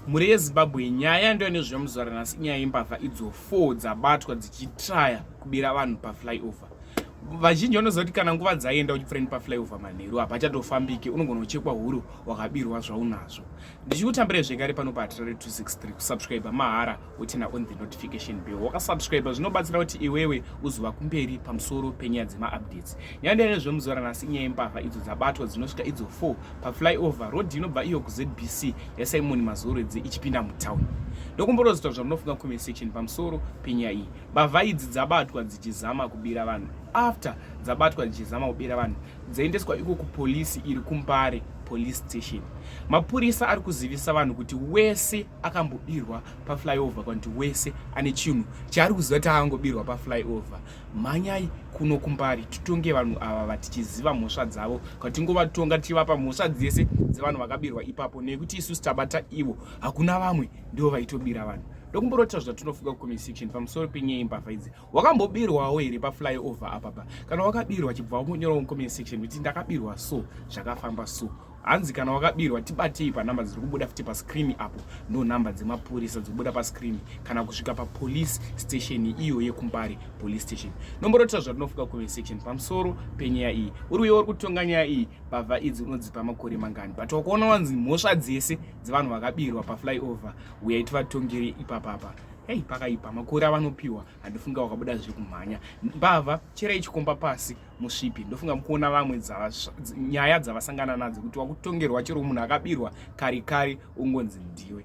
mhuri yezimbabwe nyaya yandiyo nezvemuzvara nhasi inyaya yembavha idzo four dzabatwa dzichitraya kubira vanhu paflyover vazhinji vanoziva kuti kana nguva dzaienda uchipfureni paflyover manheru hapachatofambike unogona kuchekwa huro wakabirwa zvaunazvo ndichikutambira zvekare pano paatirare 263 kusubscribe mahara utina on the notification bell wakasubscribe zvinobatsira kuti iwewe uziva kumberi pamusoro penyaya dzemaupdates nyaya ndiyane zvemuzuva ranhasi inyaya yembavha idzo dzabatwa dzinosvika idzo 4 paflyover road inobva iyo kuzbc yasimon mazoredzi ichipinda mutown ndokumborozotaura zvamunofunga comment section pamusoro penyaya iyi mbavha idzi dzabatwa dzichizama kubira vanhu after dzabatwa dzichizama kubira vanhu dzaendeswa iko kupolisi iri kumbare police station mapurisa ari kuzivisa vanhu kuti wese akambobirwa paflyover kwanti wese ane chinhu chaari kuziva kuti akangobirwa paflyover mhanyai kuno kumbari titonge vanhu ava vatichiziva mhosva dzavo katingovatonga tichivapa mhosva dzese dzevanhu vakabirwa ipapo nekuti isusu tabata ivo hakuna vamwe ndivo vaitobira vanhu ndokumborota zvatinofunga kucomment section pamusoro penyaya yembavha idzi wakambobirwawo here paflyover apapa kana wakabirwa chibva wanyora mucomment section kuti ndakabirwa so zvakafamba so hanzi kana wakabirwa tibatei panhamba dziri kubuda futi pascreen apo ndo nhamba dzemapurisa dzikubuda pascreen kana kusvika papolice station iyo yekumbari police station nomboro tira zvatinofuka comment section pamusoro penyaya iyi uri uye uri kutonga nyaya iyi bava idzi unodzipa makore mangani but wakuona wanzi mhosva dzese dzevanhu vakabirwa paflyover uyaiti vatongere ipapapa Hey, pakaipa makore avanopiwa handifunga wakabuda zviri kumhanya mbavha chera ichikomba pasi musvipi ndofunga mukuona vamwe nyaya dzavasangana nadzo kuti wakutongerwa chero munhu akabirwa kari kari ungonzi ndiwe